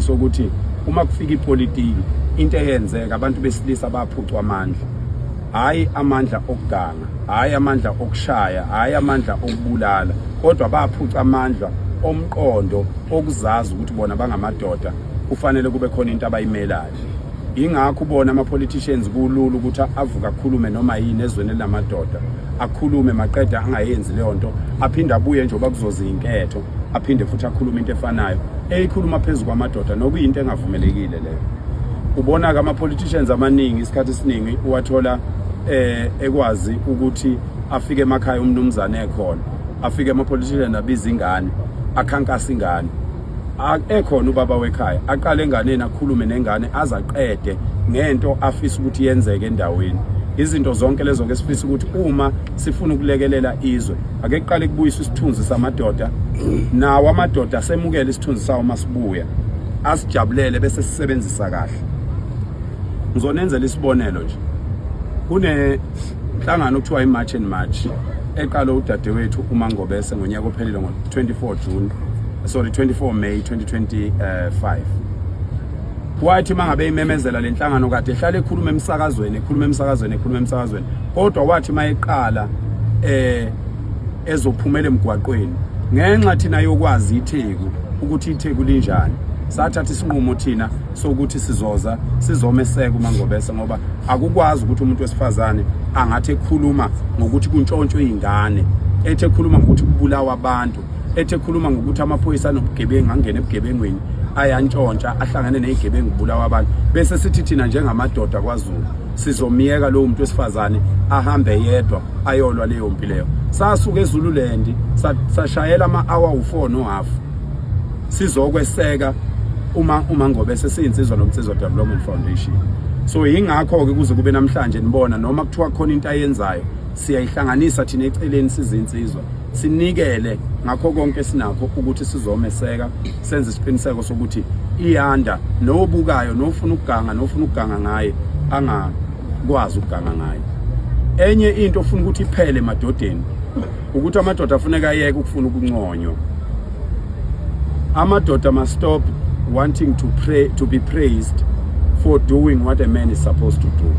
sokuthi uma kufika ipolitiki into eyenzeka abantu besilisa baphucwa amandla hayi amandla okuganga hayi amandla okushaya hayi amandla okubulala kodwa baphuca amandla omqondo okuzazi ukuthi bona bangamadoda kufanele kube khona into abayimelayo ingakho ubona ama-politicians kulula ukuthi avuke akhulume noma yini ezweni elinamadoda akhulume maqeda angayenzi leyo nto aphinde abuye njengoba kuzoza inketho aphinde futhi akhulume into efanayo eyikhuluma phezu kwamadoda nokuyinto engavumelekile leyo ubona ke ama-politicians amaningi isikhathi esiningi uwathola eh ekwazi ukuthi afike emakhaya umnumzane ekhona afike ama-politician abiza ingane akhankasa ingane ekhona ubaba wekhaya aqale enganeni akhulume nengane azaqede ngento afisa ukuthi yenzeke endaweni izinto zonke lezo ke sifisa ukuthi uma sifuna ukulekelela izwe ake kuqale kubuyiswe isithunzi samadoda nawo amadoda asemukele isithunzi sawo masibuya asijabulele bese sisebenzisa kahle ngizonenzela isibonelo nje kune nhlangano okuthiwa iMarch and March eqale udadewethu uMangobese ngonyaka ophelile ngo-24 June sorry 24 May 2025 wathi mangabe imemezela lenhlangano kade ehlale ekhuluma emsakazweni ekhuluma emsakazweni ekhuluma emsakazweni kodwa wathi mayeqala eh ezophumela emgwaqweni ngenxa thina yokwazi itheku ukuthi itheku linjani sathatha isinqumo thina sokuthi sizoza sizomeseka umangobese ngoba akukwazi ukuthi umuntu wesifazane angathi ekhuluma ngokuthi kuntshontshwe izingane ethi ekhuluma ngokuthi kubulawa abantu ethe khuluma ngokuthi amaphoyisa anobugebengu angene ebugebengweni ayantshontsha ahlangane nezigebengu bulawa abantu bese sithi thina njengamadoda kwaZulu sizomyeka lowo muntu wesifazane ahambe yedwa ayolwa leyo mpi leyo sasuka eZululand sashayela ama-hour u-4 no half sizokweseka uma uma ngobe sesiyinsizwa nomnsizwa development foundation so yingakho ke kuze kube namhlanje nibona noma kuthiwa khona into ayenzayo siyayihlanganisa thina eceleni sizinsizwa sinikele ngakho konke sinakho ukuthi sizomeseka senze isiqiniseko sokuthi iyanda nobukayo nofuna ukuganga nofuna ukuganga ngaye angakwazi ukuganga ngaye enye into ofuna ukuthi iphele emadodeni ukuthi amadoda afuneka ayeke ukufuna ukunconywa amadoda must stop wanting to pray to be praised for doing what a man is supposed to do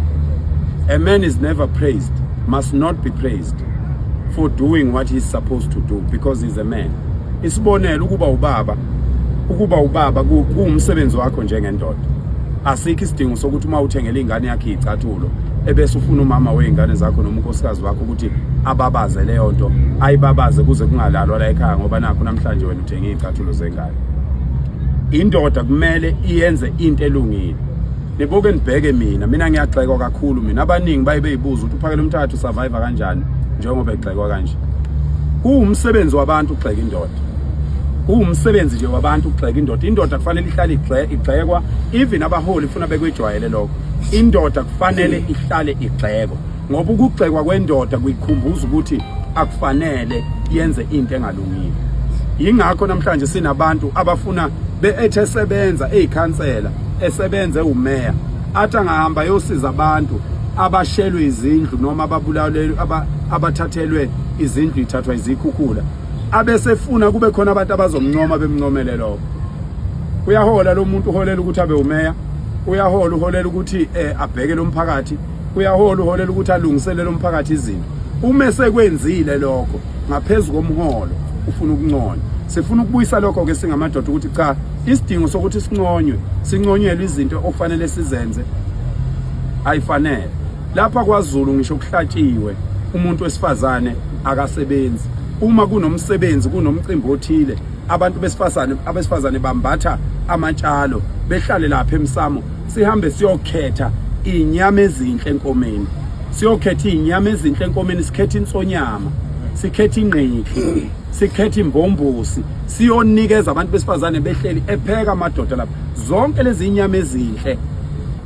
a man is never praised must not be praised for doing what he's supposed to do because he's a man isibonelo ukuba ubaba ukuba ubaba kuwumsebenzi wakho njengendoda asikho isidingo sokuthi uma uthengele ingane yakhe icathulo ebese ufuna umama weingane zakho noma unkosikazi wakho ukuthi ababaze leyo nto ayibabaze kuze kungalalwa la ekhaya ngoba nakho namhlanje wena uthenge iy'cathulo zengane indoda kumele iyenze into elungile nibuke nibheke mina mina ngiyagxekwa kakhulu mina abaningi baye beyibuza ukuthi uphakele umthathu survive kanjani njengoba egxekwa kanje kuwumsebenzi wabantu ukugxeka indoda kuwumsebenzi nje wabantu ukugxeka indoda indoda kufanele ihlale igxekwa even abaholi funa bekwejwayele lokho indoda kufanele ihlale igxekwa ngoba ukugxekwa kwendoda kuyikhumbuza ukuthi akufanele yenze into engalungile yingakho namhlanje sinabantu abafuna beethe sebenza ezikhansela esebenze umeya athi angahamba yosiza abantu abashelwe izindlu noma ababulawelwe abathathelwe izindlu ithathwa izikhukhula abesefuna kube khona abantu abazomncoma bemncomele lokho uyahola lo muntu uholela ukuthi abe umeya uyahola uholela ukuthi eh, abheke lo mphakathi uyahola uholela ukuthi alungiselele umphakathi izinto uma esekwenzile lokho ngaphezu komholo ufuna ukunconywa sifuna ukubuyisa lokho ke singamadoda ukuthi cha isidingo sokuthi sinconywe sinconyelwe izinto okufanele sizenze ayifanele lapha kwaZulu ngisho kuhlatshiwe umuntu wesifazane akasebenzi uma kunomsebenzi kunomcimbi othile abantu besifazane abesifazane bambatha amatshalo behlale lapha emsamo sihambe siyokhetha inyama ezinhle enkomeni siyokhetha inyama ezinhle enkomeni sikhetha insonyama sikhetha ingqiki sikhetha imbombosi siyonikeza abantu besifazane behleli epheka amadoda lapha zonke lezi inyama ezinhle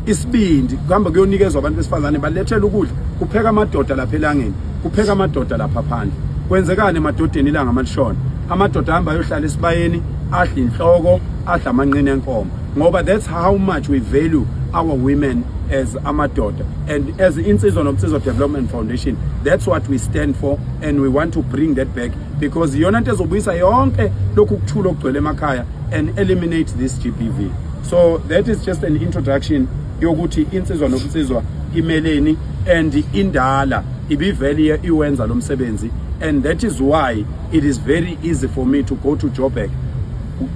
isibindi kuhamba kuyonikezwa abantu besifazane balethela ukudla kupheka amadoda lapha elangeni kupheka amadoda lapha phandle kwenzekani emadodeni ilanga amalishona amadoda ahamba ayohlala esibayeni adla inhloko adla amanqina enkomo ngoba that's how much we value our women as amadoda and as insizwa nomsizwa development foundation that's what we stand for and we want to bring that back because iyona nto ezobuyisa yonke lokhu kuthula okugcwele emakhaya and eliminate this gbv so that is just an introduction yokuthi insizwa nomsizwa imeleni and indala ibivele iwenza lo msebenzi and that is why it is very easy for me to go to joburg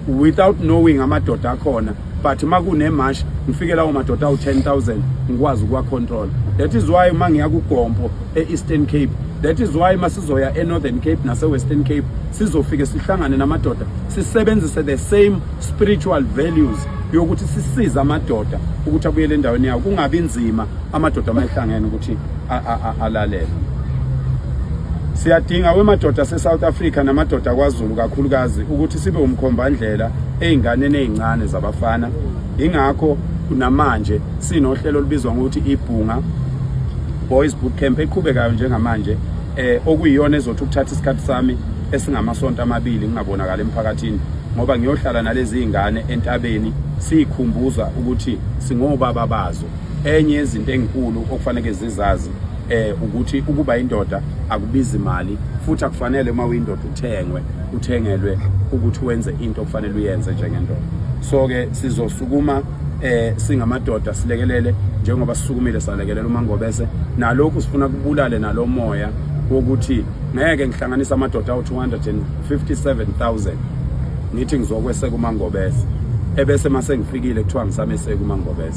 without knowing amadoda akhona but uma kunemash ngifike lawo madoda awu-10000 ngikwazi ukuwacontrola that is why uma ngiya kugompo e-eastern cape that is why uma sizoya e-northern cape nase-western cape sizofike sihlangane namadoda sisebenzise the same spiritual values yokuthi sisize amadoda ukuthi abuyele endaweni yawo kungabi nzima amadoda uma ehlangene ukuthi alalele siyadinga wemadoda se-south africa namadoda kwazulu kakhulukazi ukuthi sibe umkhombandlela ey'nganeni ey'ncane zabafana yingakho kunamanje sinohlelo olubizwa ngokuthi ibhunga boys boot camp eqhubekayo njengamanje eh okuyiyona ezothi ukuthatha isikhathi sami esingamasonto amabili ngingabonakala emphakathini ngoba ngiyohlala nalezi zingane entabeni siyikhumbuza ukuthi singobaba bazo enye yezinto enkulu okufanele zizazi eh ukuthi ukuba indoda akubizi imali futhi akufanele uma uyindoda uthengwe uthengelwe ukuthi wenze into okufanele uyenze njengendoda so ke sizosukuma eh singamadoda silekelele njengoba sisukumile salekelela uMangobese nalokhu sifuna kubulale nalomoya wokuthi ngeke ngihlanganisa amadoda awu 257000 ngithi ngizokweseka uMangobese ebese mase ngifikile kuthiwa ngisameseka uMangobese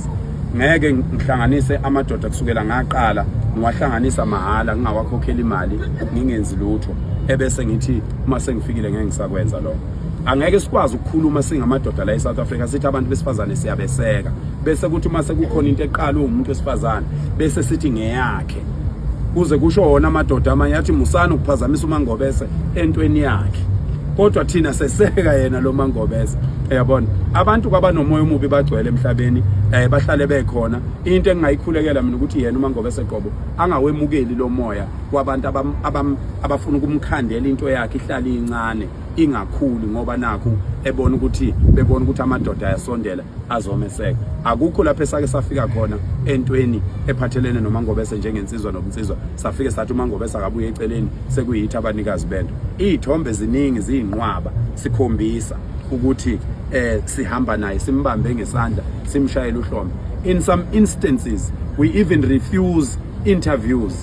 ngeke ngihlanganise amadoda kusukela ngaqala ngiwahlanganisa mahhala ngingawakhokheli imali ngingenzi lutho ebese ngithi uma sengifikile ngeke ngisakwenza lokho angeke sikwazi ukukhuluma singamadoda la eSouth Africa sithi abantu besifazane siyabeseka bese kuthi uma sekukhona into eqalwe umuntu wesifazane bese sithi ngeyakhe kuze kusho wona amadoda amanye athi musani ukuphazamisa umangobese entweni yakhe kodwa thina seseka yena lo mangobese uyabona abantu kwabanomoya omubi bagcwele emhlabeni eh bahlale bekhona into engingayikhulekela mina ukuthi yena umangobese qobo angawemukeli lo moya kwabantu abafuna ukumkhandela into yakhe ihlale incane ingakhuli ngoba nakho ebona ukuthi bebona ukuthi amadoda ayasondela azomeseka akukho lapho esake safika khona entweni ephathelene nomangobese njengensizwa nobunsizwa safike sathi umangobese akabuye eceleni sekuyitha abanikazi bento izithombe ziningi ziyinqwaba sikhombisa ukuthi eh sihamba naye simbambe ngesandla simshayele uhlombe in some instances we even refuse interviews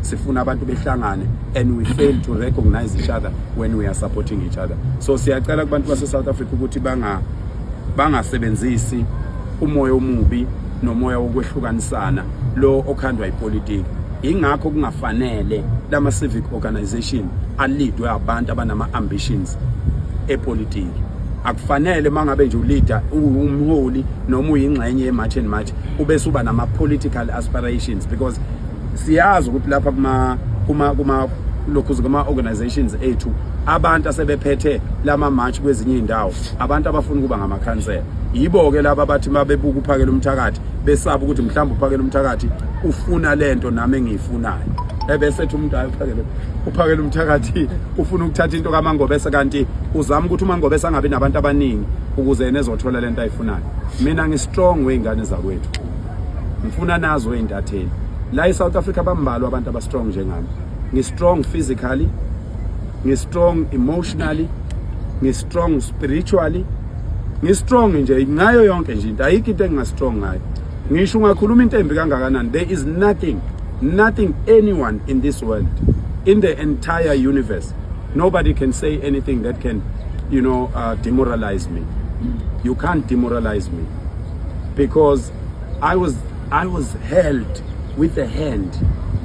sifuna abantu behlangane and we fail to recognize each other when we are supporting each other so siyacela kubantu base South Africa ukuthi banga bangasebenzisi umoya omubi nomoya wokwehlukanisana lo okhandwa ipolitiki ingakho kungafanele lama civic organization alidwe abantu abanama ambitions epolitiki akufanele mangabe nje uleader umholi noma uyingxenye yemarch and march ubese uba nama political aspirations because siyazi ukuthi lapha kuma kuma kuma lokhu kuma organizations ethu abantu asebephethe lama march kwezinye indawo abantu abafuna kuba ngamakhansela yibo ke laba bathi mabebuka uphakela umthakathi besaba ukuthi mhlawumbe uphakela umthakathi ufuna lento nami engiyifunayo ebese ethi umuntu ayophakela uphakela umthakathi ufuna ukuthatha into kamangobese kanti uzama ukuthi umangobese angabi nabantu abaningi ukuze yena ezothola lento ayifunayo mina ngistrong weyingane zakwethu ngifuna nazo intatheli la eSouth Africa bambalwa abantu aba strong njengami ngi strong physically ngi strong emotionally ngi strong spiritually ngi strong nje ngayo yonke nje into ayikho into enginga strong ngayo ngisho ungakhuluma into embi kangakanani there is nothing nothing anyone in this world in the entire universe nobody can say anything that can you know uh, demoralize me you can't demoralize me because I was I was held with a hand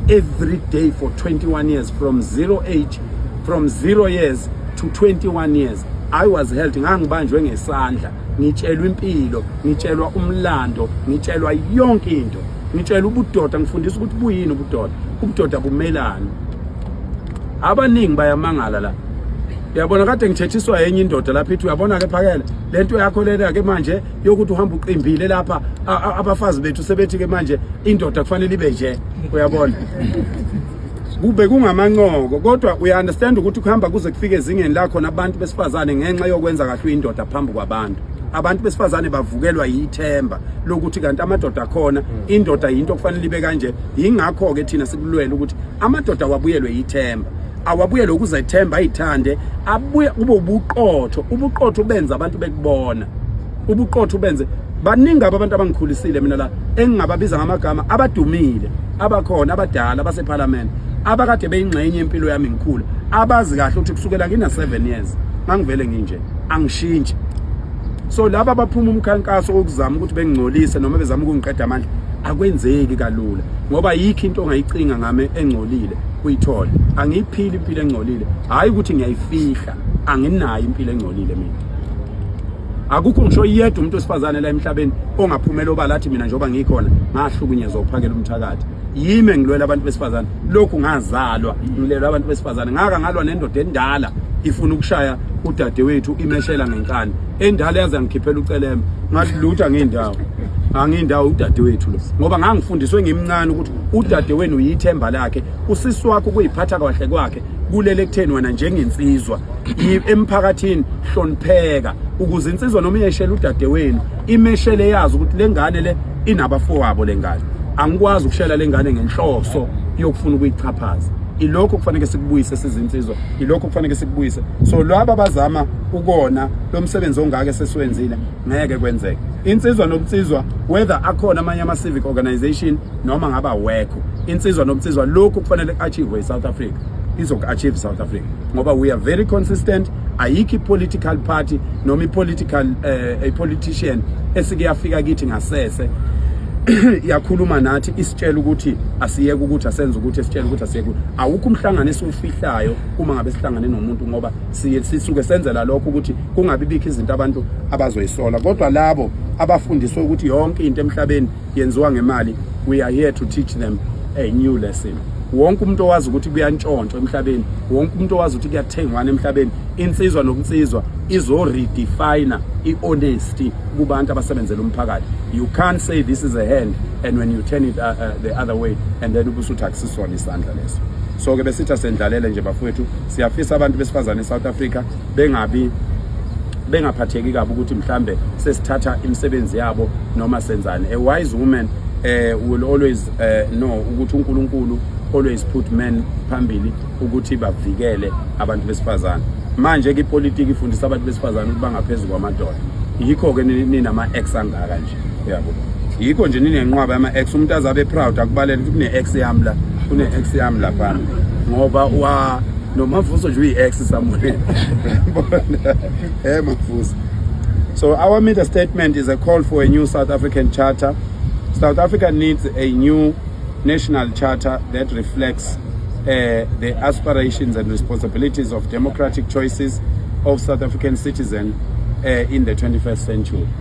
every day for 21 years from zero age from zero years to 21 years I was held ngangibanjwe ngesandla ngitshelwa impilo ngitshelwa umlando ngitshelwa yonke into ngitshelwa ubudoda ngifundisa ukuthi buyini ubudoda ubudoda bumelani abaningi bayamangala la uyabona kade ngithethiswa yenye indoda lapha ithi uyabona ke phakela lento yakho lena ke manje yokuthi uhamba uqimbile lapha abafazi bethu sebethi ke manje indoda kufanele ibe nje uyabona kube kungamancoko kodwa uya understand ukuthi kuhamba kuze kufike ezingeni lakho nabantu besifazane ngenxa yokwenza kahle uyindoda phambi kwabantu abantu besifazane bavukelwa yithemba lokuthi kanti amadoda akhona indoda yinto okufanele ibe kanje yingakho ke thina sikulwela ukuthi amadoda wabuyelwe yithemba awabuye lokuzethemba ayithande abuye kube ubuqotho ubuqotho benza abantu bekubona ubuqotho benze baningi abantu abangikhulisile mina la engingababiza ngamagama abadumile abakhona abadala basephalamende abakade beyingxenye impilo yami ngikhula abazi kahle ukuthi kusukela ngina 7 years ngangivele nginje angishintshi so laba baphuma umkhankaso wokuzama ukuthi bengingcolise noma bezama ukungiqeda amandla akwenzeki kalula ngoba yikho into ongayicinga ngami engcolile uyithole angiyiphili impilo engcolile hayi ukuthi ngiyayifihla anginayo impilo engcolile mina akukho ngisho yedwa umuntu osifazane la emhlabeni ongaphumela obala athi mina njengoba ngikhona ngahlukunyezwa uphakela umthakathi yimi engilwela abantu besifazane lokhu ngazalwa ngilela abantu besifazane ngaka ngalwa nendoda endala ifuna ukushaya udadewethu imeshela ngenkani endala yaze ngikhiphela ucelema ngathi lutha ngeendawo angiyindawo udadewethu lo ngoba ngangifundiswe ngimncane ukuthi udadewenu yithemba lakhe usisi wakho kuyiphatha kahle kwakhe kulele kutheni wena njengensizwa emphakathini hlonipheka ukuze insizwa noma iyeshela udadewenu imeshele yazi ukuthi lengane le inabafowabo lengane angikwazi ukushela lengane ngenhloso yokufuna ukuyichaphaza ilokho kufanele sikubuyise sizinsizwa ilokho kufanele sikubuyise so laba bazama ukona lo msebenzi ongaka sesiwenzile ngeke kwenzeke insizwa nobunsizwa whether akhona amanye ama civic organization noma ngaba wekho insizwa nobunsizwa lokhu kufanele achieve eSouth Africa izoku achieve South Africa ngoba we are very consistent ayikho ipolitical party noma ipolitical uh, a politician esike yafika kithi ngasese yakhuluma nathi isitshela ukuthi asiyeke ukuthi asenze ukuthi esitshela ukuthi asiyeke awukho umhlangano esiwufihlayo uma ngabe sihlangane nomuntu ngoba siye sisuke senzela lokho ukuthi kungabi bikho izinto abantu abazoyisola kodwa labo abafundiswe ukuthi yonke into emhlabeni yenziwa ngemali we are here to teach them a new lesson wonke umuntu owazi ukuthi kuyantshontshwa emhlabeni wonke umuntu owazi ukuthi kuyathengwana emhlabeni insizwa nokunsizwa izo redefine i-honesty kubantu abasebenzela umphakathi you can't say this is a hand and when you turn it uh, uh, the other way and then ubusuthi akusisona isandla leso so ke besitha sendlalele nje bafowethu Siyafisa abantu besifazane eSouth Africa bengabi bengaphatheki kabi ukuthi mhlambe sesithatha imisebenzi yabo noma senzani a wise woman eh will always eh, know ukuthi uNkulunkulu always put men phambili ukuthi bavikele abantu besifazane manje ke ipolitiki ifundisa abantu besifazane ukuthi bangaphezulu kwamadoda yikho ke ninama ex angaka nje yabo yikho nje ninenqwaba yama ex umuntu azabe proud akubalele ukuthi kune ex yami la kune ex yami la phana ngoba wa nomavuso nje uyi ex samune eh mavuso so our media statement is a call for a new south african charter south africa needs a new national charter that reflects uh, the aspirations and responsibilities of democratic choices of south african citizens uh, in the 21st century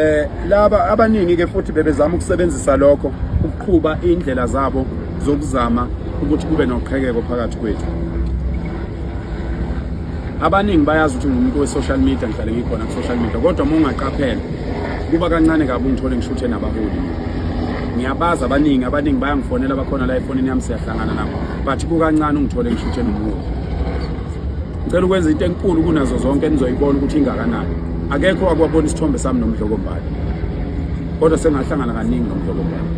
Eh laba abaningi ke futhi bebezama ukusebenzisa lokho ukuqhuba indlela zabo zokuzama ukuthi kube noqhekeko phakathi kwethu. Abaningi bayazi ukuthi ngumuntu we-social media ngihlale ngikhona ku-social media kodwa uma ungaqaphela kuba kancane kabi ungithole ngishuthe nabaholi. Ngiyabazi abaningi abaningi bayangifonela bakhona la efonini yami siyahlangana nabo but kukancane ungithole ngishuthe nomuntu. ngicela ukwenza into enkulu kunazo zonke enizoyibona ukuthi ingakanani akekho wakwabona isithombe sami nomdlokombali kodwa sengahlangana kaningi nomdlokombali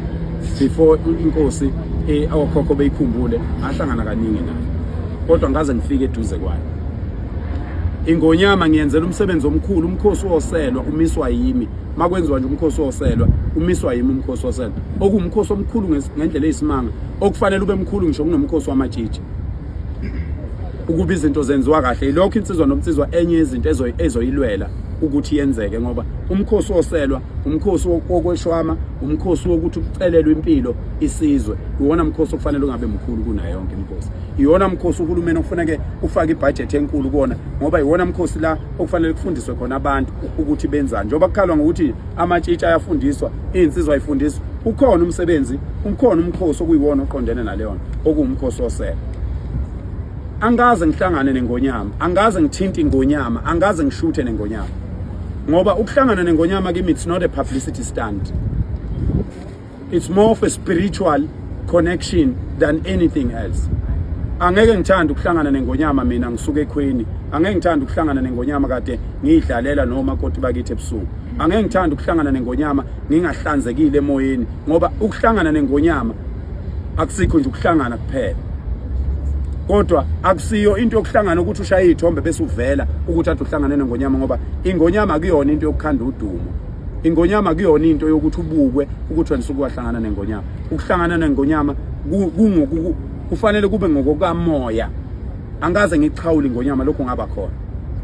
before inkosi eh, awokhokho beyikhumbule ngahlangana kaningi nayo kodwa ngaze ngifike eduze kwayo ingonyama ngiyenzela umsebenzi omkhulu umkhosi woselwa umiswa yimi makwenziwa nje umkhosi woselwa umiswa yimi umkhosi woselwa okuwumkhosi omkhulu ngendlela eyisimanga okufanele ube mkhulu ngisho kunomkhosi wamatshitshi ukuba izinto zenziwa kahle ilokho insizwa nomnsizwa enye yezinto ezoyilwela ukuthi yenzeke ngoba umkhosi woselwa umkhosi wokweshwama umkhosi wokuthi kucelelwe impilo isizwe iwona mkhosi okufanele ungabe mkhulu kunayo yonke imkhosi iwona mkhosi uhulumeni okufanele ufake ibudget enkulu kuona ngoba iwona mkhosi la okufanele kufundiswe khona abantu ukuthi benzani njengoba kukhalwa ngokuthi amatshitshi ayafundiswa Insizwa ifundiswa ukhona umsebenzi, ukhona umkhosi okuyiwona oqondene naleyo nto, okuwumkhosi osele. Angaze ngihlangane nengonyama, angaze ngithinte ingonyama, angaze ngishuthe nengonyama. Ngoba ukuhlangana nengonyama kimi it's not a publicity stunt. It's more of a spiritual connection than anything else. angeke ngithanda ukuhlangana nengonyama mina ngisuke ekhweni angeke ngithanda ukuhlangana nengonyama kade ngiyidlalela noma koti bakithi ebusuku angeke ngithanda ukuhlangana nengonyama ngingahlanzekile emoyeni ngoba ukuhlangana nengonyama akusikho nje ukuhlangana kuphela kodwa akusiyo into yokuhlangana ukuthi ushaye ithombe bese uvela ukuthi athi uhlangane nengonyama ngoba ingonyama kuyona into yokukhanda udumo ingonyama kuyona into yokuthi ubukwe ukuthi wena usuke wahlangana nengonyama ukuhlangana nengonyama kufanele kube ngokokamoya angaze ngikuxhawuli ngonyama lokhu ngaba khona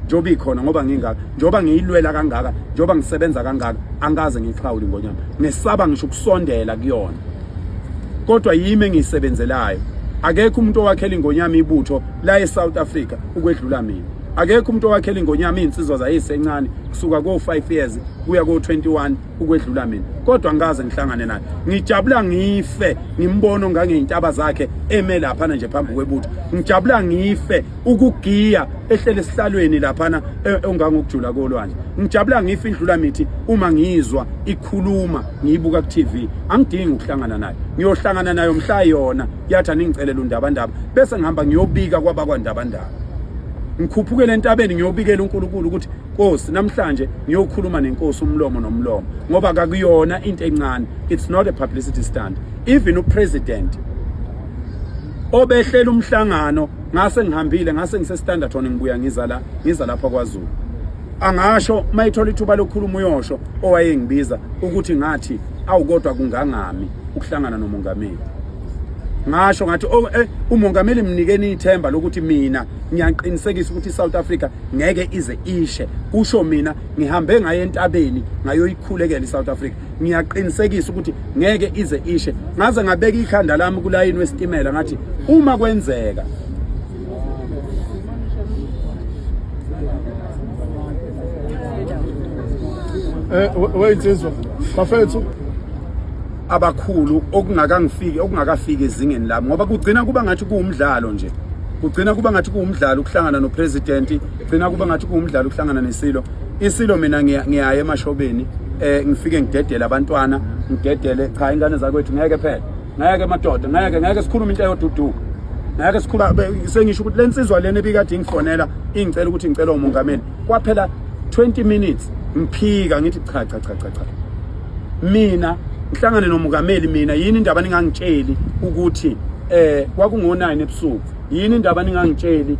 njengoba ikhona ngoba ngingaka njengoba ngiyilwela kangaka njengoba ngisebenza kangaka angaze ngixhawuli ngonyama ngesaba ngisho ukusondela kuyona kodwa yimi engiyisebenzelayo akekho umuntu owakhela ingonyama ibutho la eSouth Africa ukwedlula mina akekho umuntu owakhela ingonyama izinsizwa zayisencane kusuka ko 5 years kuya ko 21 ukwedlula mina kodwa ngikaze ngihlangane naye ngijabula ngife ngimbona ongangeyintaba zakhe eme laphana nje phambi kwebutho ngijabula ngife ukugiya ehlele esihlalweni laphana e, ongangokujula kolwandle ngijabula ngife indlula mithi uma ngizwa ikhuluma ngiyibuka ku-tv angidingi ukuhlangana nayo ngiyohlangana nayo mhla yona yathi aningicelela undabandaba bese ngihamba ngiyobika kwabakwandabandaba ngikhuphukele entabeni ngiyobikela unkulunkulu ukuthi Nkosi namhlanje ngiyokhuluma nenkosi umlomo nomlomo ngoba kakuyona into encane it's not a publicity stunt even upresident obehlela umhlangano ngase ngihambile ngase ngise Standerton ngibuya ngiza la ngiza lapha kwaZulu angasho mayithola ithuba lokukhuluma uyosho owayengibiza ukuthi ngathi awukodwa kungangami ukuhlangana nomongameli ngasho ngathi oh, eh, umongameli mnikeni ithemba lokuthi mina ngiyaqinisekisa ukuthi iSouth Africa ngeke ize ishe kusho mina ngihambe ngaye entabeni ngayoyikhulekela iSouth Africa ngiyaqinisekisa ukuthi ngeke ize ishe ngaze ngabeka ikhanda lami kulayini wesitimela ngathi uma kwenzeka eh wait insizwa bafethu abakhulu okungakangifiki okungakafiki ezingeni lami ngoba kugcina kuba ngathi kuwumdlalo nje kugcina kuba ngathi kuwumdlalo ukuhlangana nopresident kugcina kuba ngathi kuwumdlalo ukuhlangana nesilo isilo mina ngiyaye emashobeni eh ngifike ngidedele abantwana ngidedele cha ingane zakwethu ngeke phela ngeke madoda ngeke ngeke sikhulume into eyoduduka ngeke sikhula sengisho ukuthi lensizwa lena ebikade ingifonela ingicela ukuthi ngicela umongameli kwaphela 20 minutes ngiphika ngithi cha cha cha cha mina ngihlangane nomukameli mina yini indaba ningangitsheli ukuthi eh kwakungo9 ebusuku yini indaba ningangitsheli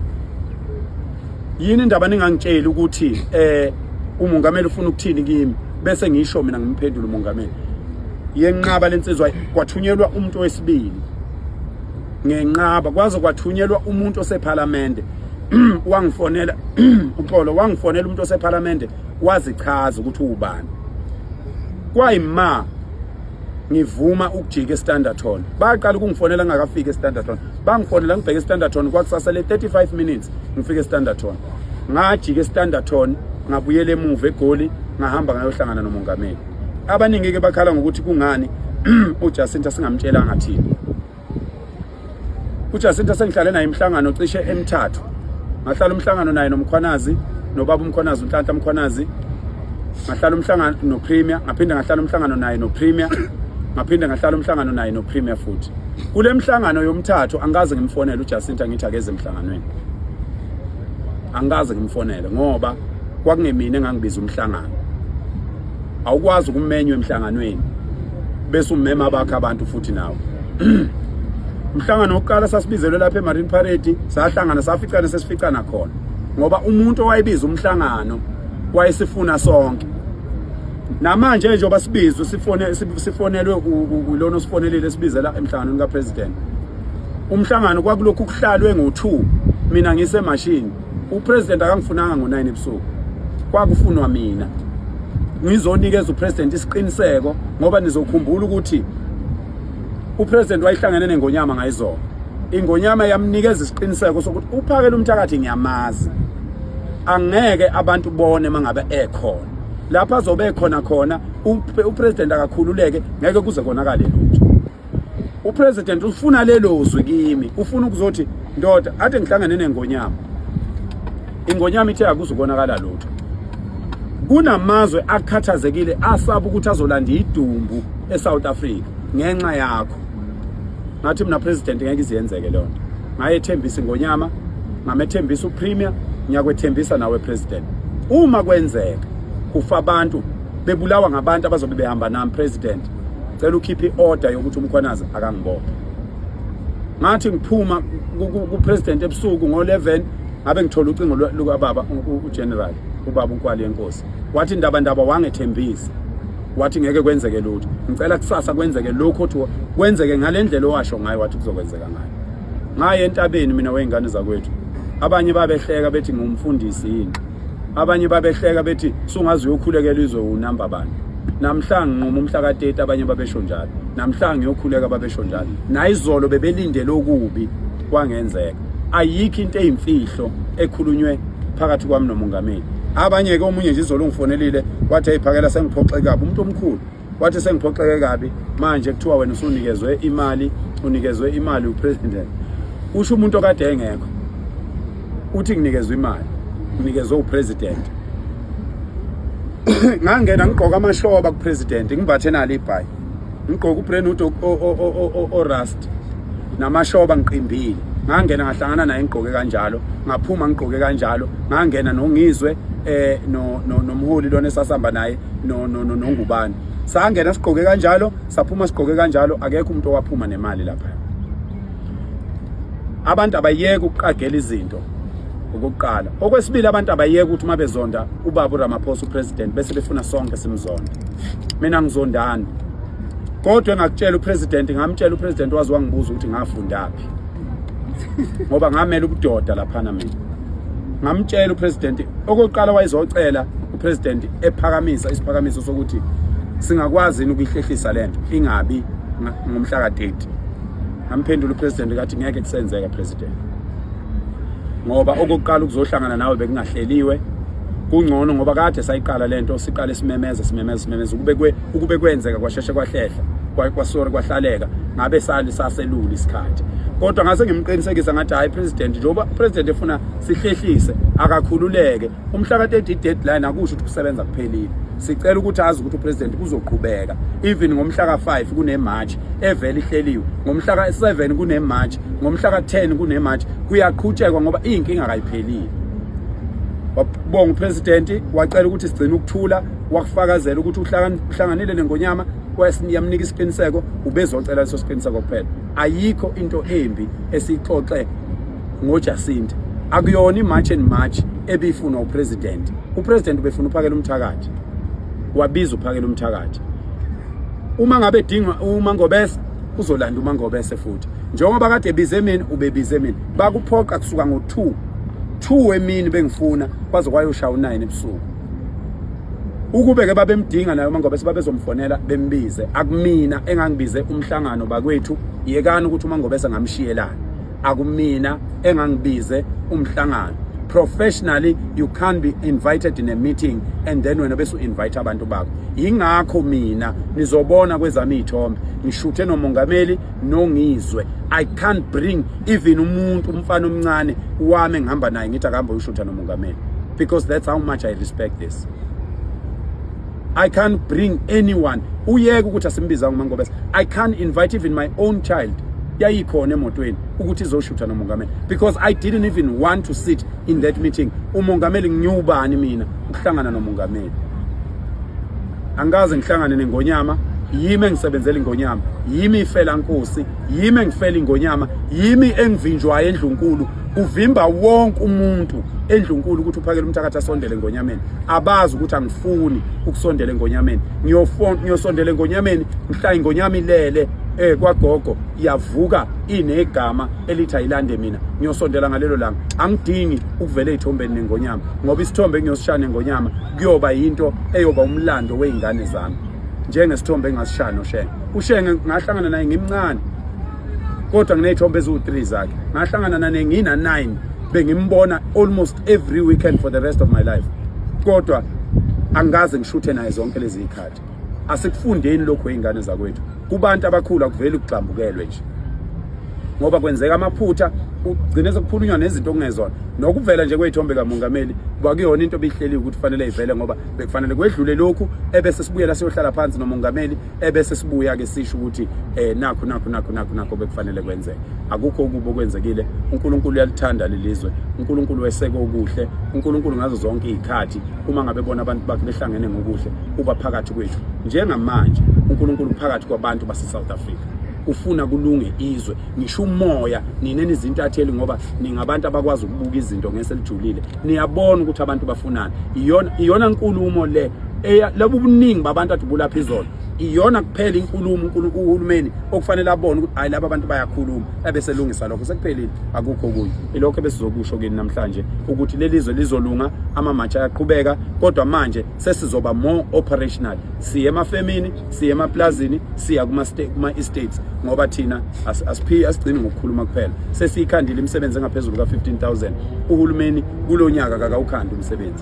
yini indaba ningangitsheli ukuthi eh umongameli ufuna ukuthini kimi bese ngisho mina ngimphendula umongameli yenqaba lensizwa kwathunyelwa umuntu wesibili ngenqaba kwaze kwathunyelwa umuntu osephalamende wangifonela uxolo wangifonela umuntu osephalamende wazichaza ukuthi ubani kwayima ngivuma ukujika estanderton baqala ukungifonela ngingakafiki estanderton bangifonela ngibheke estanderton kwakusasa le 35 minutes ngifike estanderton ngajika estanderton ngabuyela emuva egoli ngahamba ngayohlangana nomongameli abaningi-ke bakhala ngokuthi kungani ujacinta singamtshelanga thina uJacinta sengihlale naye imhlangano cishe emithathu ngahlala umhlangano naye nomkhwanazi nobaba umkhwanazi unhlanhla mkhwanazi ngahlala umhlangano nopremier ngaphinde ngahlala umhlangano naye nopremier ngaphinde ngahlala umhlangano naye nopremier futhi kule mhlangano yomthathu angikaze ngimfonele uJacinta ngithi akeze emhlanganweni angikaze ngimfonele ngoba kwakungemina engangibiza umhlangano awukwazi ukumenywa emhlanganweni bese umema bakhe abantu futhi nawe umhlangano wokuqala sasibizelwe lapha emarine parade sahlangana saficana sesificana khona ngoba umuntu owayebiza umhlangano wayesifuna sonke namanje njengoba sibizwe sifone sifonelwe ulona osifonelile sibizela emhlanganweni kapresident umhlangano kwakulokhu kuhlalwe ngo2 mina ngise machine upresident akangifunanga ngo-9 ebusuku kwakufunwa mina ngizonikeza upresident isiqiniseko ngoba nizokhumbula ukuthi upresident wayihlangene nengonyama ngayizona ingonyama yamnikeza isiqiniseko sokuthi uphakela umthakathi ngiyamazi angeke abantu bone mangabe ekhona lapha azobe ekhona khona upresident akakhululeke ngeke kuze konakale lutho upresident ufuna lelo zwi kimi ufuna ukuzothi ndoda ade ngihlangane nengonyama ingonyama ithe akuzukonakala lutho kunamazwe akhathazekile asaba ukuthi azolanda idumbu eSouth Africa ngenxa yakho ngathi mina president ngeke iziyenzeke leyo nto ngayethembisa ingonyama ngamethembisa upremier ngiyakwethembisa nawe president uma kwenzeka kufa abantu bebulawa ngabantu abazobe behamba nami president cela ukhiphe i-order yokuthi umkhwanazi akangibophe ngathi ngiphuma kupresident ebusuku ngo-11 ngabe ngithola ucingo lukababa ugeneral ubaba unkwali yenkosi wathi indaba ndaba wangethembisa wathi ngeke kwenzeke lutho ngicela kusasa kwenzeke lokho othi kwenzeke ngale ndlela owasho ngayo wathi kuzokwenzeka ngayo ngaye entabeni mina wey'ngane zakwethu abanye babehleka bethi ngumfundisi yini abanye babehleka bethi sungaze uyokhulekela izwe unumber bani namhlanje nquma umhla ka-30 abanye babesho njalo namhlanje ngiyokhuleka babesho njalo nayizolo bebelindele okubi kwangenzeka ayikho into eyimfihlo ekhulunywe phakathi kwami nomongameli abanye-ke omunye nje izolo ungifonelile wathi ayiphakela sengiphoxekaphi umuntu omkhulu wathi sengiphoxeke kabi manje kuthiwa wena usunikezwe imali unikezwe imali upresident usho umuntu okade engekho uthi nginikezwe imali nginikezwe upresident ngangena ngigqoka amashoba kupresident ngimbathe nalo ibhayi ngigqoka ubrand hood orust namashoba ngiqimbile ngangena ngahlangana naye ngigqoke kanjalo ngaphuma ngigqoke kanjalo ngangena nongizwe eh no nomholi lona esasamba naye no no no nongubani sangena sigqoke kanjalo saphuma sigqoke kanjalo akekho umuntu owaphuma nemali lapha abantu abayeke ukuqagela izinto okokuqala okwesibili abantu abayeke ukuthi uma bezonda ubaba uramaphosa upresident bese befuna sonke simzonda mina ngizondani kodwa engakutshela upresident ngamtshela upresident wazi wangibuza ukuthi ngafundaphi ngoba ngamela ubudoda laphana mina ngamtshela upresident okokuqala wayezocela President ephakamisa isiphakamiso sokuthi singakwazi yini ukuyihlehlisa lento ingabi ngomhla ka-30 ngamphendula upresident kathi ngeke kusenzeka president ngoba okokuqala ukuzohlangana nawe bekungahleliwe kungcono ngoba kade sayiqala lento siqale simemeza simemeza simemeza ukube kwe ukube kwenzeka kwasheshe kwahlehla kwasori kwahlaleka ngabe sali saselula isikhathi kodwa ngase ngimqinisekisa ngathi hayi president njengoba president efuna sihlehlise akakhululeke umhla ka-30 deadline akusho ukuthi kusebenza kuphelile sicela ukuthi azi ukuthi upresident kuzoqhubeka even ngomhla ka-5 kunemarch evele ihleliwe ngomhla ka-7 kunemarch ngomhla ka-10 kunemarch kuyaqhutshekwa ngoba iyinkinga kayiphelile wabonga upresident wacela ukuthi sigcine ukuthula wakufakazela ukuthi uhlanganile nengonyama yamnika isiqiniseko ubezocela leso siqiniseko kuphela ayikho into embi esixoxe ngoJacinta akuyona imarch and march ebifunwa upresident upresident ubefuna uphakela umthakathi wabiza uphakela umthakathi uma ngabe edinga uma ngobese uzolanda uma ngobese futhi njengoba kade ebize mina ubebize mina bakuphoqa kusuka ngo2 2 emini bengifuna kwaze kwayoshaya u9 ebusuku ukube ke babemdinga nayo mangobe sebabezomfonela bembize akumina engangibize umhlangano bakwethu yekani ukuthi umangobe sengamshiyelana akumina engangibize umhlangano professionally you can't be invited in a meeting and then wena bese u-invite abantu bakho yingakho mina nizobona kwezami iy'thombe ngishuthe nomongameli nongizwe i can't bring even umuntu umfana omncane wami engihamba naye ngithi akahambe uyushutha nomongameli because that's how much i respect this I can't bring anyone uyeke ukuthi asimbizanga uMangobese I can't invite even my own child yayikhona emotweni ukuthi izoshutha nomongameli because I didn't even want to sit in that meeting umongameli ngiwubani mina ukuhlangana nomongameli angikaze ngihlangane nengonyama yimi engisebenzela ingonyama yimi ifela nkosi yimi engifela ingonyama yimi engivinjwayo endlunkulu kuvimba wonke umuntu endlunkulu ukuthi uphakele umthakathi asondele ngonyameni abazi ukuthi angifuni ukusondela engonyameni ngiyosondela engonyameni mhla ingonyama ilele eh kwagogo iyavuka inegama elithi ayilande mina ngiyosondela ngalelo langa angidingi ukuvela ezithombeni nengonyama ngoba isithombe engiyosishaya nengonyama kuyoba yinto eyoba umlando weingane zami njengesithombe engasishaya noshenge ushenge ngahlangana naye ngimncane kodwa nginey'thombe eziwu-three zakhe ngahlangana nane ngina-nine bengimbona almost every weekend for the rest of my life kodwa angikaze ngishuthe naye zonke lezi y'khathi asikufundeni lokhu ey'ngane zakwethu kubantu abakhulu akuveli ukugxambukelwe nje ngoba kwenzeka amaphutha ugcine sekukhulunywa nezinto okungezona nokuvela nje kweyithombe kamongameli kwakuyona into ebihleliwe ukuthi kufanele ivele ngoba bekufanele kwedlule lokhu ebese sibuyela siyohlala phansi nomongameli ebese sibuya-ke sisho ukuthi um nakho nakho nakho nakho nakho bekufanele kwenzeke akukho okubi okwenzekile unkulunkulu uyalithanda lelizwe unkulunkulu weseke okuhle unkulunkulu ngazo zonke iy'khathi uma ngabe bona abantu bakhe behlangene ngokuhle uba phakathi kwethu njengamanje unkulunkulu phakathi kwabantu base-south africa ufuna kulunge izwe ngisho umoya nina nizintatheli ngoba ningabantu abakwazi ukubuka izinto ngeselijulile niyabona ukuthi abantu bafunani iyona iyona nkulumo le labo ubuningi babantu adubula phezulu iyona kuphela inkulumo uNkulunkulu uhulumeni okufanele abone ukuthi hayi laba bantu bayakhuluma ebese lungisa lokho sekuphelile akukho kunye ilokho besizokusho kini namhlanje ukuthi lelizwe lizolunga ama match ayaqhubeka kodwa manje sesizoba more operational siye emafemini siye emaplazini siya kuma kuma estates ngoba thina asiphi asigcini ngokukhuluma kuphela sesiyikhandile imisebenzi engaphezulu ka 15000 uhulumeni kulonyaka kakawukhandi umsebenzi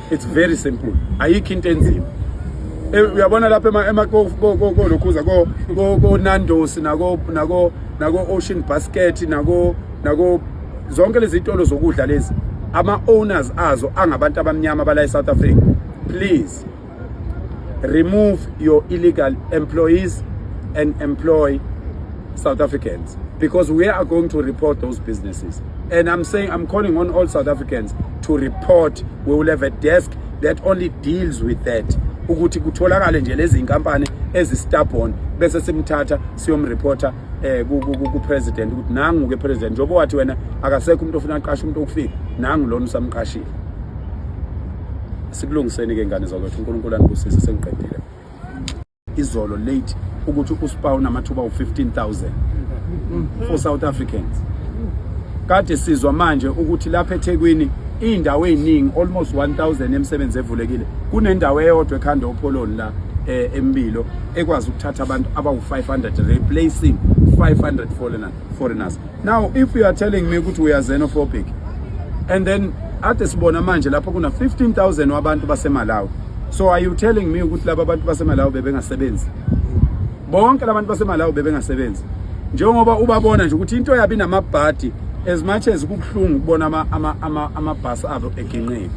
it's very simple ayikho into enzima eh, uyabona lapha ema kolokhuza ko ko Nando's nako nako nako Ocean Basket nako nako zonke lezi zitolo zokudla lezi ama owners azo angabantu abamnyama bala eSouth Africa please remove your illegal employees and employ South Africans because we are going to report those businesses And I'm saying I'm calling on all South Africans to report. We will have a desk that only deals with that. ukuthi kutholakale nje lezi inkampani ezistubborn bese simthatha siyomreporter eh ku president ukuthi nangu ke president njengoba wathi wena akasekho umuntu ofuna aqashe umuntu okufika nangu lona usamqashile sikulungiseni ke ngane zakwethu uNkulunkulu anibusise sengiqedile izolo late ukuthi uspa unamathuba u15000 for South Africans kade sizwa manje ukuthi lapha eThekwini indawo eziningi almost 1000 emsebenzi evulekile kunendawo eyodwa ekhanda opholoni la eh, embilo ekwazi ukuthatha abantu abawu500 replacing 500 foreigners now if you are telling me ukuthi we are xenophobic and then ade sibona manje lapho kuna 15000 wabantu basemalawi so are you telling me ukuthi laba bantu basemalawi bebengasebenzi bonke labantu basemalawi bebengasebenzi njengoba ubabona nje ukuthi into yabi namabhadi as much as kubuhlungu ukubona ama ama ama amabhasi abo eginqile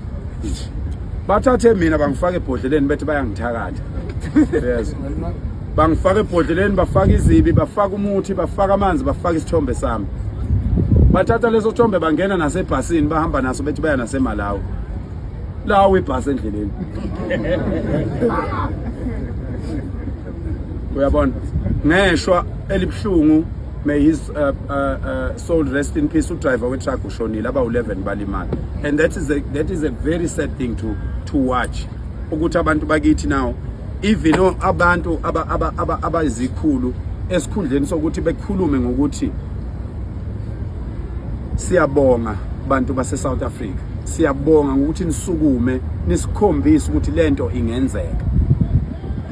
bathathe mina bangifake ebhodleleni bethi bayangithakatha yes bangifaka ebhodleleni bafaka izibi bafaka umuthi bafaka amanzi bafaka isithombe sami bathatha leso sithombe bangena nasebhasini bahamba naso bethi baya nasemalawi lawo ibhasi endleleni uyabona ngeshwa elibuhlungu may his uh, uh, uh, soul rest in peace udriver wetruck ushonile abawu-11 balimala and that is, a, that is a very sad thing to, to watch ukuthi abantu bakithi now even abantu abayizikhulu aba, aba, aba esikhundleni sokuthi bekhulume ngokuthi siyabonga bantu base South Africa siyabonga ngokuthi nisukume nisikhombise ukuthi lento ingenzeka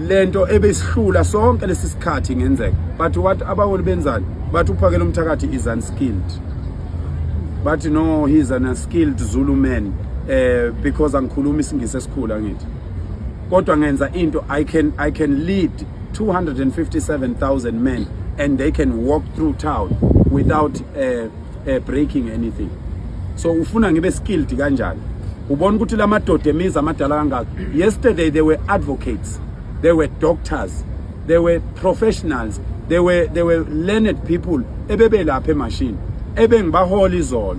lento ebesihlula sonke lesi sikhathi ingenzeka but what abaholi benzani bathi uphakela umthakathi is unskilled bathi no he's an unskilled Zulu man eh because angikhuluma isingisi esikhulu angithi kodwa ngenza into i can i can lead 257000 men and they can walk through town without uh, uh, breaking anything so ufuna ngibe skilled kanjani ubona ukuthi lamadoda emizi amadala kangaka yesterday they were advocates they were doctors they were professionals they were they were learned people ebebelapha emashini ebengibahola izolo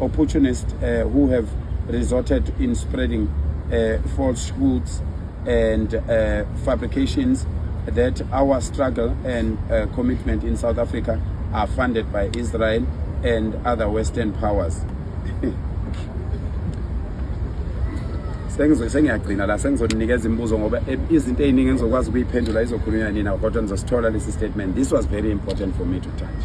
opportunists uh, who have resorted in spreading uh, falsehoods and uh, fabrications that our struggle and uh, commitment in South Africa are funded by Israel and other Western powers. sengiyagcina la sengizonikeza imibuzo ngoba e, izinto eziningi engizokwazi ukuyiphendula izokhulunywa nina kodwa nizosithola lesi statement this was very important for me to touch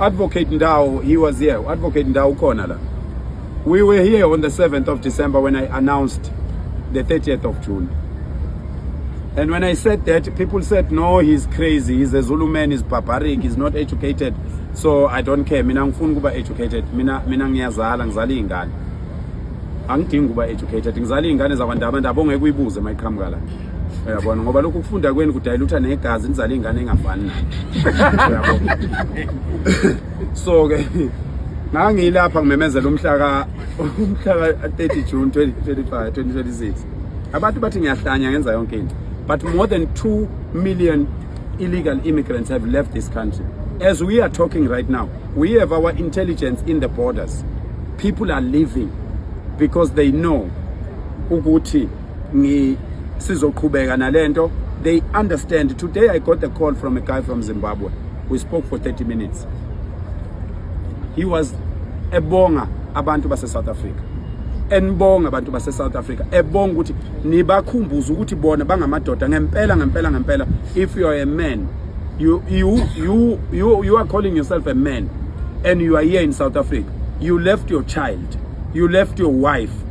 Advocate Ndau, he was here. Advocate Ndau ukhona la. We were here on the 7th of December when I announced the 30th of June. And when I said that, people said, no, he's crazy. He's a Zulu man. He's barbaric. He's not educated. So I don't care. Mina ngifuna kuba educated. Mina mina ngiyazala ngizala ingane. Angidingi kuba educated. Ngizala ingane zakwandaba ndabonge kuyibuze mayiqhamuka la. uyabona ngoba lokhu kufunda kweni kudayilutha negazi nizala ingane engafani nayo so ke ngangilapha ngimemezela umhlaka umhlaka 30 June 2025 2026 abantu bathi ngiyahlanya ngenza yonke into but more than 2 million illegal immigrants have left this country as we are talking right now we have our intelligence in the borders people are leaving because they know ukuthi ngi sizoqhubeka nalento they understand today i got a call from a guy from zimbabwe we spoke for 30 minutes he was ebonga abantu base-south africa enibonga abantu base-south africa ebonga ukuthi nibakhumbuze ukuthi bona bangamadoda ngempela ngempela ngempela if you are a man you, you, you, you, you are calling yourself a man and you are here in south africa you left your child you left your wife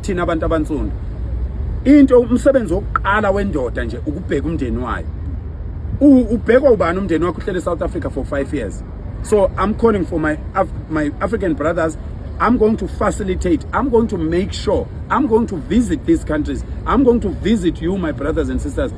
thina abantu abansundu into umsebenzi wokuqala wendoda nje ukubheka umndeni wayo ubhekwa ubani umndeni wakho uhlele South Africa for 5 years so i'm calling for my Af my african brothers i'm going to facilitate i'm going to make sure i'm going to visit these countries i'm going to visit you my brothers and sisters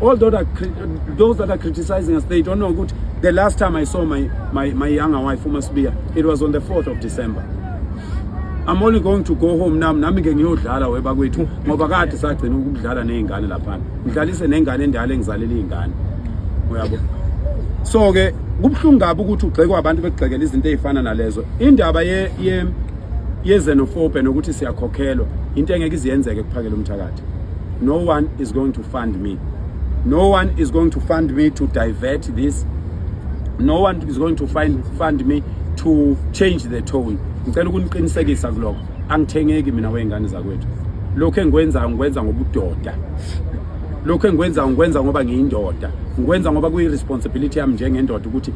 all those that, those that are criticizing us they don't know good the last time i saw my, my, my younger wife umasbiya it was on the 4th of december i'm only going to go home nam nami ke ngiyodlala webakwethu ngoba kade sagcina ukudlala nezingane laphana ngidlalise nengane endala engizalele izingane uyabo so ke kubuhlungu kabi ukuthi ugxekwa abantu bekugxekela izinto ezifana nalezo indaba ye, ye yezenofobe nokuthi siyakhokhelwa into engeke iziyenzeke kuphakela umthakathi no one is going to fund me no one is going to fund me to divert this no one is going to find, fund me to change the tone ngicela ukuniqinisekisa kuloko angithengeki mina wey'ngane zakwethu lokhu engikwenzayo ngikwenza ngobudoda lokhu engikwenzayo ngikwenza ngoba ngiyindoda ngikwenza ngoba kuyi-responsibility yami njengendoda ukuthi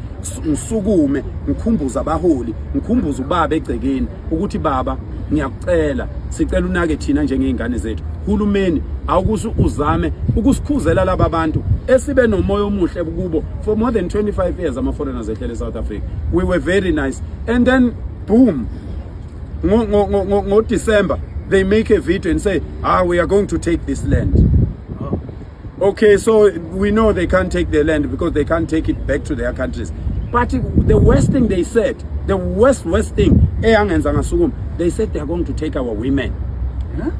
ngisukume ngikhumbuza abaholi ngikhumbuza ubaba egcekeni ukuthi baba ngiyakucela sicela unake thina njengey'ngane zethu hulumeni awukuthi uzame ukusikhuzela laba bantu esibe nomoya omuhle kubo for more than 25 years ama-foreigners ehlele e-south africa we were very nice and then boom ngo-december they make a video and say ah we are going to take this land Okay, so we know they can't take their land because they can't take it back to their countries. But the worst thing they said, the worst, worst thing, eh, they said they are going to take our women. Huh?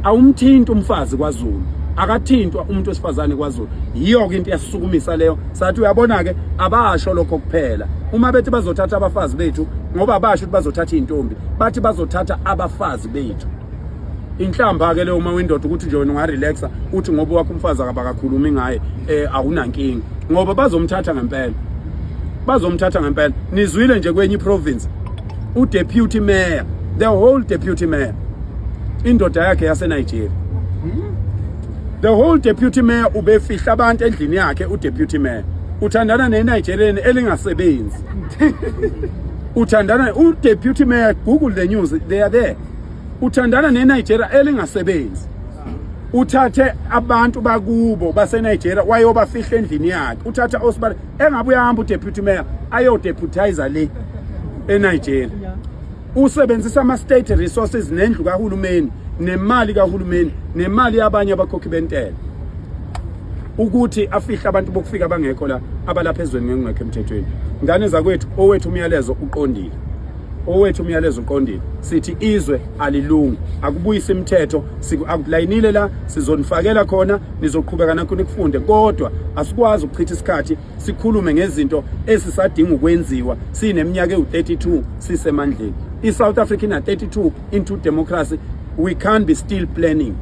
awumthinti umfazi kwaZulu akathintwa umuntu wesifazane kwaZulu yiyo ke into yasisukumisa leyo sathi uyabona ke abasho lokho kuphela uma bethi bazothatha abafazi bethu ngoba abasho ukuthi bazothatha izintombi bathi bazothatha abafazi bethu inhlamba-ke leyo uma windoda ukuthi nje wena ungarelaxa uthi ngoba wakho umfazi akabakakhulumi ngaye um awunankinga ngoba bazomthatha ngempela bazomthatha ngempela nizwile nje kwenye iprovince udeputy mayor the whole deputy mayor indoda yakhe yasenigeria the whole deputy mayor ubefihla abantu endlini yakhe udeputy mayor uthandana nenigerian elingasebenzi uthandana udeputy mayor google the news they are there uthandana neNigeria elingasebenzi uthathe abantu bakubo baseNigeria wayobafihla endlini yakhe uthatha osibale engabe uyahamba udeputy mayor ayodeputizer le eNigeria usebenzisa ama state resources nendlu kahulumeni nemali kahulumeni nemali yabanye abakhokhi bentela ukuthi afihle abantu bokufika bangekho la abalapha ezweni ngengekho emthethweni ngane zakwethu owethu umyalezo uqondile owethu umyalezo uqondile sithi izwe alilungi akubuyisa imithetho akulayinile la sizonifakela khona nizoqhubeka nakho nikufunde kodwa asikwazi ukuchitha isikhathi sikhulume ngezinto esisadinga ukwenziwa sineminyaka ewu-32 sisemandleni i-south africa ina-32 into democracy we can't be still planning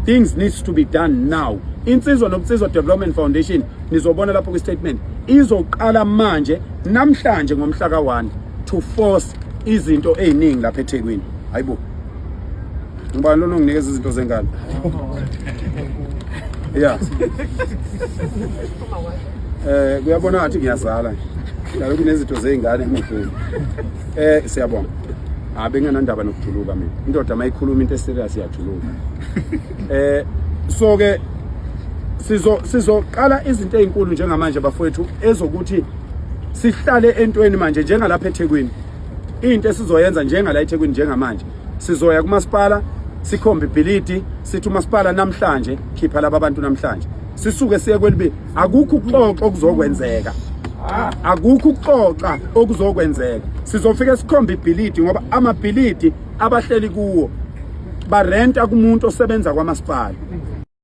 things needs to be done now insizwa nobunsizwa development foundation nizobona lapho kwi-statement izoqala manje namhlanje ngomhla ka-1 to force izinto eziningi lapha eThekwini hayibo ngoba lona unginikeza izinto zengane yeah eh kuyabona ngathi ngiyazala nalo kunezinto zeingane emhlweni eh siyabonga abe ah, nganandaba nokujuluka mina indoda mayikhuluma into eserious yajuluka eh so ke sizo sizoqala izinto ezinkulu njengamanje bafowethu ezokuthi sihlale entweni manje njengalapha eThekwini into esizoyenza njengala eThekwini njengamanje sizoya kumasipala sikhombe ibhilidi sithi umasipala namhlanje khipha laba bantu namhlanje sisuke siye kwelibi akukho ukuxoxa okuzokwenzeka akukho ukuxoxa okuzokwenzeka sizofika sikhombe ibhilidi ngoba amabhilidi abahleli kuwo barenta kumuntu osebenza kwamasipala